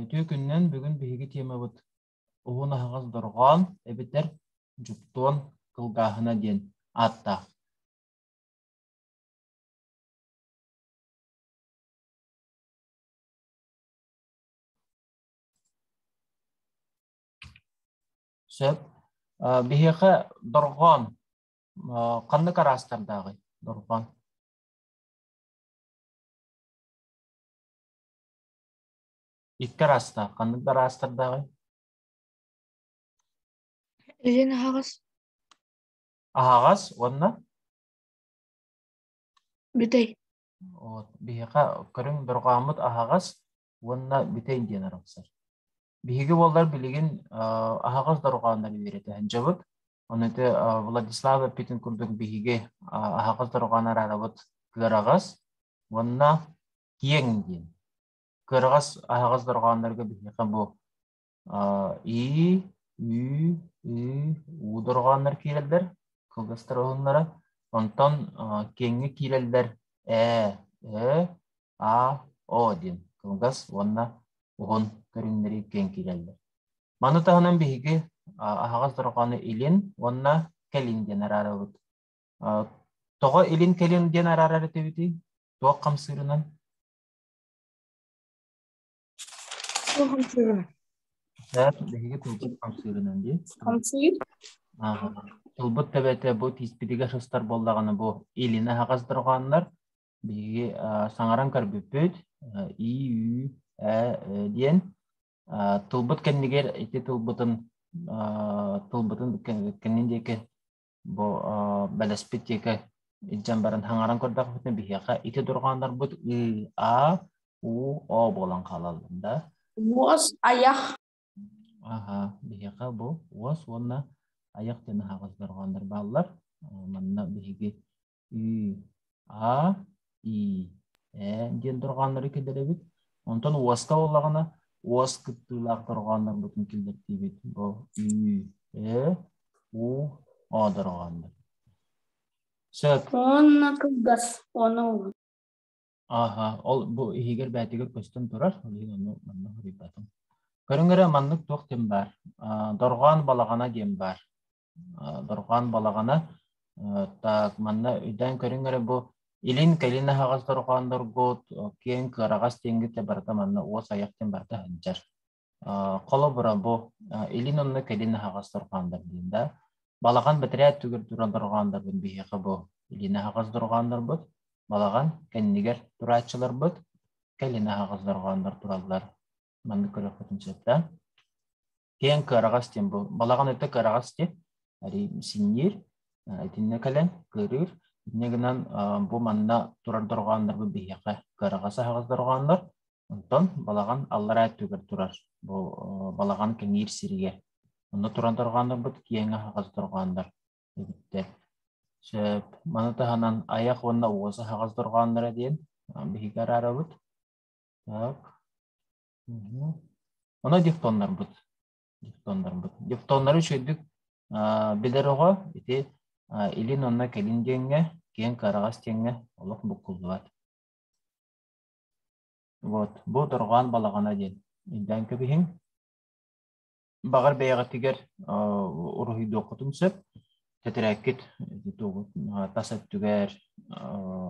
Үтүө күнүнэн бүгүн биһиги тиэмабыт Уһун аһаҕас дорҕоон эбэтэр дьуптуон кылгааһына диэн ааттаах. Сөп. Биһиэхэ дорҕоон ханнык араастардааҕый дорҕоон? Икки араастаах. Ханнык да араастардааҕый? Илин аһаҕас. Аһаҕас уонна бүтэй. Вот, биһиэхэ көрүҥ дорҕооммут аһаҕас уонна бүтэй диэн арахсар. Биһиги буоллар билигин аһаҕас дорҕооннор үөрэтэн дьабыт. Ону те Владислав эппитин курдук биһиги аһаҕас дорҕоон араалабыт кыараҕас уонна киэҥ диэн. Кыараҕас аһаҕас дорҕооннорго биһиэхэ бу и, ү, ү, у дорҕооннор киирэллэр, кылгастар уһуннара. Онтон киэҥҥэ киирэллэр э, э, аа, оо диэн кылгас уонна уһун көрүҥнэри киэҥкиирэллэр. Маны таһынан биһиги аһаҕас дорҕоону илин уонна кэлин диэн араарабыт. Тоҕо илин кэлин диэн араарар этибитий? Туох хамсыырынан? Туох хамсыырынан? Даад биһиги тылбыт хамсыырынан дии. Хамсыыр? Аха. Тылбыт төбөтө бу тииспитигэр сыстар буоллаҕына бу илин аһаҕас дорҕооннор Биһиги саҥаран көрбүппүт и, ү, ә диэн тылбыт кэннигэр ити тылбытын тылбытын кэннин диэки бу бэлэспит диэки илдьэн баран хаҥаран көрдөхпүтүнэ биһиэхэ ити дурҕааннарбыт ы, а, у, о буолан хаалаллар Уос, айах. Аха, биһиэхэ бу уос уонна айах диэн аһаҕас дорҕооннор бааллар. Манна биһиги И, А, И, Э диэн дорҕооннору киллэрэбит. Онтон уоска буоллаҕына, уос кыттыылаах дорҕооннорбутун киллэртиибит. Бу Ü, Э, У, О дорҕооннор. Сөп. Уонна кылгас ону Аха, ол бу иһигэр бээтигэр көстөн турар, ол иһин ону манна хоруйдатым. Көрүҥ эрэ маннык туох диэн баар? А, дорҕоон балаҕана диэн баар. Дорҕоон балаҕана так манна үйдээн көрүҥ эрэ бу илин кэлин аһаҕас дорҕоонноргут киэҥ кыараҕас тиэнгитэ барыта манна уос айах диэн барыта сылдьар. Холобура бу илин онно кэлин аһаҕас дорҕооннор диэн да балаҕан бэтэрээ түгэр туран дорҕооннорбун биһиэхэ бу илин аһаҕас дорҕооннорбут балаҕан кэннигэр турааччыларбыт кэлин аһаҕас дорҕооннор тураллар маннык көрөхпүтүн сөптөөн киэҥ кыараҕас диэн бу балаҕан өттө кыараҕас диэн арий синниир итиннэ кэлэн кыырыыр инньэ гынан бу манна турар дорҕооннорбут биһиэхэ кыараҕас аһаҕас дорҕооннор онтон балаҕан аллараа өттүгэр турар бу балаҕан кэҥиир сиригэр онно туран дорҕооннорбут киэҥ аһаҕас дорҕооннор эбиттэр сөп маны таһынан айах уонна уос аһаҕас дорҕоонноро диэн биһиги араарабыт так Оно дифтоннарбыт. Дифтоннарбыт. Дифтоннары үчүгэйдик билэр оҕо ити илин онно кэлин диэҥҥэ, киэҥ хараҕас диэҥҥэ олох буккуллубат. Вот, бу дорҕоон балаҕана диэн. Илдьэн кэбиһиҥ. Баҕар бэйэҕитигэр уруһуйдуоххутун сөп. Тэтэрээккит тас өттүгэр,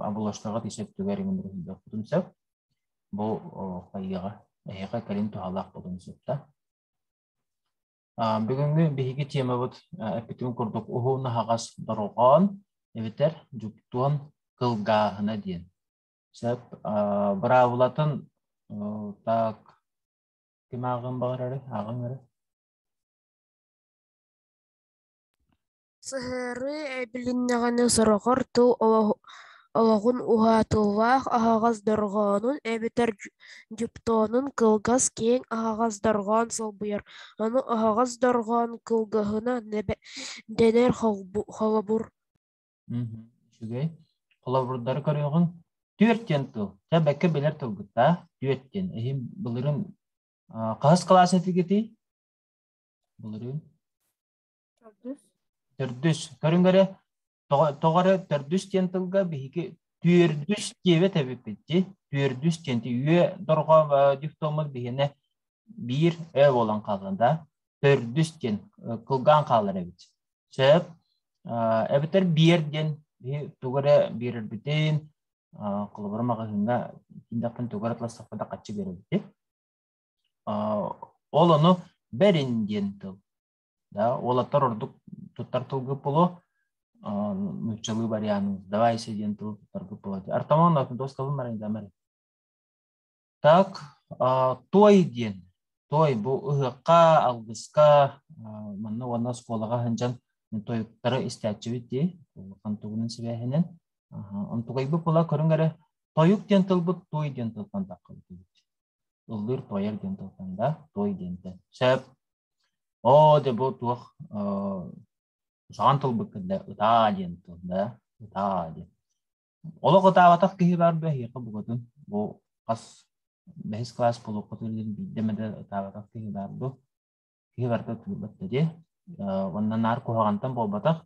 абылаштаҕыт ис өттүгэр иҥин уруһуйдуоххутун сөп. Бу хайыаҕа, эһиэхэ кэлин туһалаах буолуон сөпта. Бүгүҥҥү биһиги тиэмэбит эппитим курдук уһуун аһаҕас дорҕоон эбэтэр дьуптуон кылгааһына диэн. Сөп. Быраабылатын так Ким ааҕыан баҕарарый? Ааҕыҥ эрэ. Сыһыарыы билиннэҕинэ сорохор тыл олох, олоҕун уһаатыллаах аһаҕас дорҕоонун эбэтэр дьу- дьуптоонун кылгас киэҥ аһаҕас дорҕоон солбуйар. Ону аһаҕас дорҕоон кылгаһына нэбэ- дэнэр холбу- холобур. Мгм. Үчүгэй. Холобурдары көрүөҕүҥ. Түөрт диэн тыл. Чэ, бэккэ билэр тылгыттаа. Түөрт диэн. Иһин былырын а, хаһыс кылаас этигитий? Былырыын. Төрдүс. Төрдүс. Көрүҥ эрэ, тоҕо, тоҕо эрэ төрдүс диэн тылга биһиги түөрдүс диэбэт эбиппит дии. Түөрдүс диэн дии. Үө дорҕо э, дифтоммут биһиэнэ биир ө буолан хаалган да. Төрдүс диэн э, кылгаан хаалар эбит. Сөп. А, эбэтэр биер диэн биһи тугу эрэ биэрэрбитин а, холобура маҕаһыыҥҥа тиийдэхпин тугу эрэ ылсахпына да хаччы биэрэбитин. А, ол ону бэрин диэн тыл. Да, уолаттар ордук туттар тылга було а, нууччалыы вариант давайся диэн тыл туттарга було. Артамон атын тос тылын марайда мары. Так, той диэн. Той бу ыһыахха, алгыска манна уонна оскуолаҕа сылдьан тойуктары истээччибит дии. Улахан тугунан сибээһинэн. Онтугайбыт була көрүҥ эрэ тойук диэн тылбыт той диэн тылтан таххыбыт ыллыыр тойар диэн тылтан да той диэнтэн сөп оо де бу туох саҕан тылбыт кэллэ ытаа диэн тыл да ытаа диэн Олох атаабатах киһи баар дуо эһиэхэ букатын? Бу хас бэһис кылаас олоххутугар диэн биирдэ эмэ да атаабатах киһи баар дуо? Киһи барыта утуйбат да диэ. Уонна наар куһаҕантан буолбатах.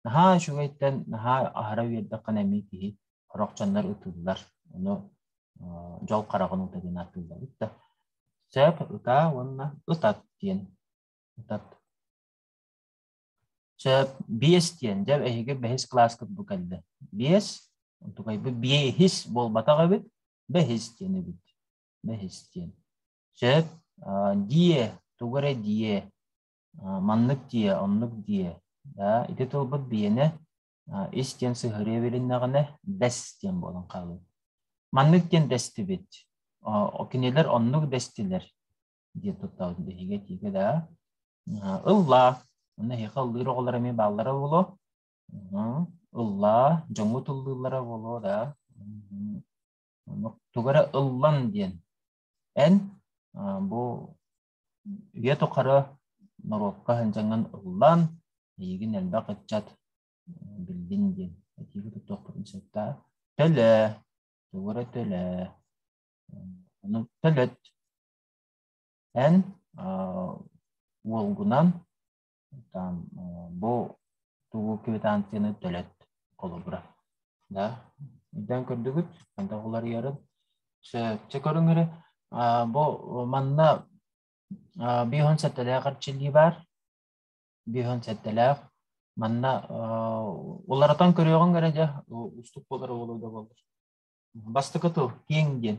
Наһаа үчүгэйтэн, наһаа аһара үөрдэххинэ эмиэ киһи хорохчоннор ытыллар. Ону дьол хараҕын уута диэн атыыллабыт да. Сөп, ытаа уонна ытат диэн. Ытат Чэ, биэс диэн, дьэ, эһиги бэһис кылааскыт бу кэллэ. Биэс, онтукайбыт биэһис буолбатах эбит, бэһис диэн эбит. Бэһис диэн. Чэ, дие, тугу эрэ дие, маннык дие, оннук дие. Да, ити тылбыт биенэ ис диэн сыһырыа билиннэҕинэ бэс диэн буолан хаалыы. Маннык диэн дэстибит. Кинилэр оннук дэстилэр. диэн тутталлар биһиги этиигэ да ылла онно эһиэхэ ыллыыр оҕолор эмиэ бааллара буолуо ыллаа дьоҥҥу тыллыыллара буолуо да тугу эрэ ыллан диэн эн бу үйэ тухары норуокка хандьаҥын ыллан эйигин элбэх ыччат биллин диэн этиигэ туттуохпутун сөптө төлө тугу эрэ төлө ону төлөт Эн уолгунан бу тугу квитанцияны төлөт холобура. Да, ирдэн көрдүгүт, хантах уларыйарын. Сөпсө көрүҥ эрэ, бу манна биһун сэттэлээх эрчиллии баар. Биһун сэттэлээх. Манна уларатан көрүөҕүҥ эрэ дьэ, устук буолар уолуйда боллур. Бастакы тыл, киэҥ диэн.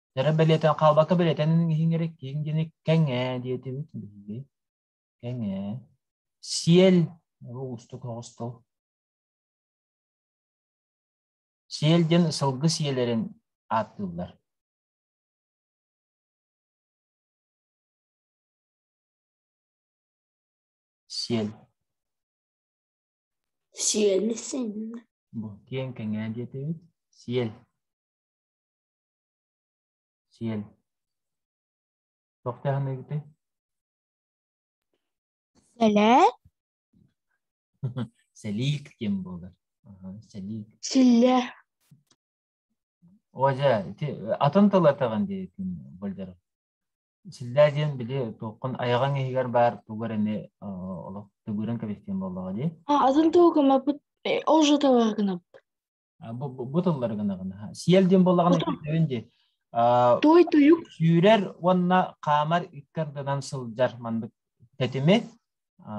Дьара бэлиэтэн, хаалбакка бэлиэтэн иһиҥ эрэ, киэҥ диэни кэҥээ диэтибит биһиги. Кэҥээ. Сиэл. Уустук оҕустул. Сиэл диэн сылгы сиэлэрин ааттыыллар. Сиэл. Сиэл син. Бу киэҥ кэҥээ диэтибит. Сиэл. Сиэн, туох дьаһаныгытый? Сэлээ, Сэлиик диэн буолар. Аха, сэлиик. силлэ, О, дьэ, ити атын тыллатаҕын диэтин болдор. Силлээ диэн били туоххун айаҕаҥ иһигэр баар тугу эрэ э, олох тыгыырын кэбистиэн буоллаҕа дии. а атын тылга маппыт э, ол же товар гынабыт. Бу тыллары гынаҕына. Сиэл диэн буоллаҕына өйдөөн дии. Той туйук сүүрэр уонна хаамар иккардынан сылдьар маннык тэтими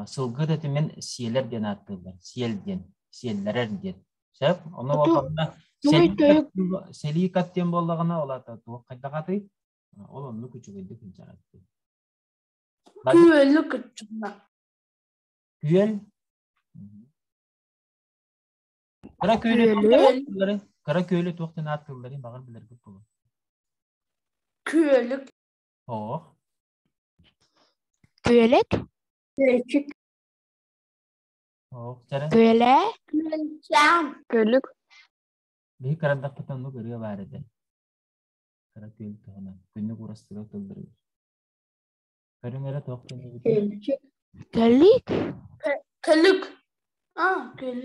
сылгы тэтимин сиэлэр диэн ааттыыллар. Сиэл диэн, сиэллэрэр диэн. Сөп? Ону буоллаҕына селика диэн буоллаҕына ол ата туох хайдах атый? Ол оннук үчүгэйдик инчэҕэттин. Күөлү кыччына. Күөл Кыра күөлү туох Кыра күөлү туох диэн ааттыылларын баҕар билэргит булун. Күөлүк. Oo. Күөлүк. Күөлчүк. Oo, Кэрэ. Күөлэ. Күөлчээн. Күөлүк. Биһи кырандахпытын оннук ырыа баар этэ. Кыра күөл туһунан. Күннүк урастыга тыллырыыр. Көрүҥ эрэ туох диэн Күөлчүк. Көллүк. Көлүк. А, көл.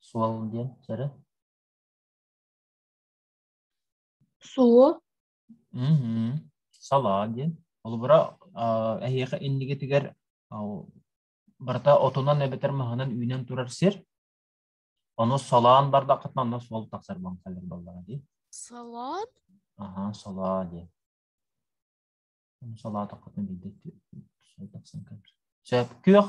Суол диэн чэрэ. Суол. Мм. Салаа диэн. Холобура, а, эһиэхэ иннигитигэр а, барыта отунан эбэтэр маһынан үүнэн турар сир. Ону салаан бардаххытына онно суол тахсар баҥхалар баллара дии. Салаат. Аха, салаа диэн. Ону салаатаххытына биирдэ тахсан көр. Сөп. Күөх.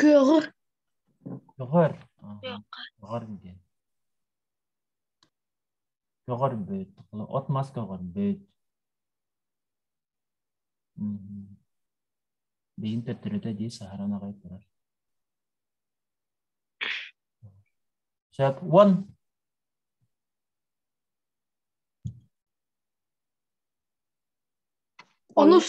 Кыаҕыр. Көҕөр. Көҕөр диэн. Көҕөрбүт. От мас көҕөрбүт. Биин төттөрүтэ дии саһаран аҕай турар. Сейчас он. Онус.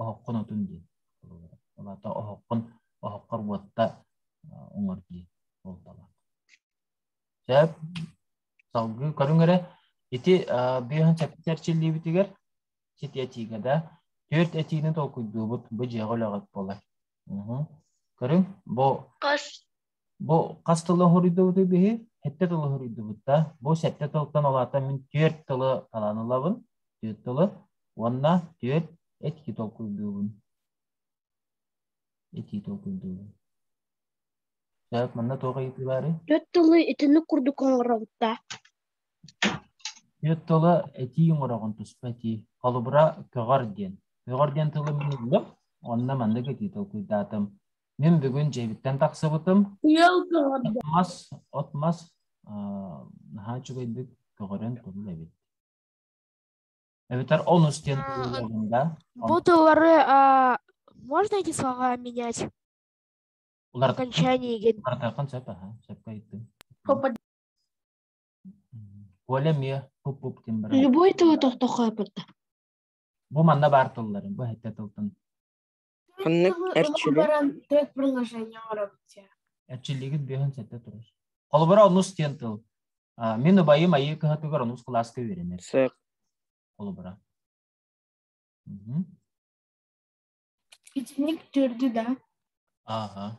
оһоххун отун диэн олата оһоххун оһоххор буотта оҥор дии буолталаах сөп салгыы көрүҥ эрэ ити бүөһүн сэппит эрчиллиибитигэр сити этиигэ да түөрт этиини толкуйдуубут бу дьиэҕэ үлэҕит буолар көрүҥ бу хас Бу хас тылы хоруйдубутуй биһи? Сэттэ тылы хоруйдубут да. Бу сэттэ тылтан олаата мин түөрт тылы талаан ылабын. Түөрт тылы. Уонна түөрт этии толкуйдуубун. Этии толкуйдуубун. Так, манна туох ыйытыы баары? Төрт тылы итинник курдук оҥоробутта. Түөрт тылы этии оҥороҕун туспа этии. Холобура көҕөр диэн. Көҕөр диэн тылы мин ыллым. Онно маннык этии толкуйдаатым. Мин бүгүн дьиэбиттэн тахсыбытым. Ыал көҕөрдө. От-мас, от-мас наһаа үчүгэйдик көҕөрөн турул эбит. Эбэтэр он үс диэн буолуоҕунда. Бу тыллары можно эти слова менять? Окончанияген. Артакан сөп, аха, сөпкө айттым. Коля мия пуп-пуп тимбра. Любой тылы тохтохо апырта. Бу манна бар тылларын, бу хэтте тылтын Ханнык эрчили? Төрт предложение робите. Эрчиллигит бүйөһүн сэтте турус. Холобура онус диэн тыл. Мен убайым айыы кыһатыгар онус кылааска үөрэнэр. Сык. Холобура. Итиник төрдү да? Ага.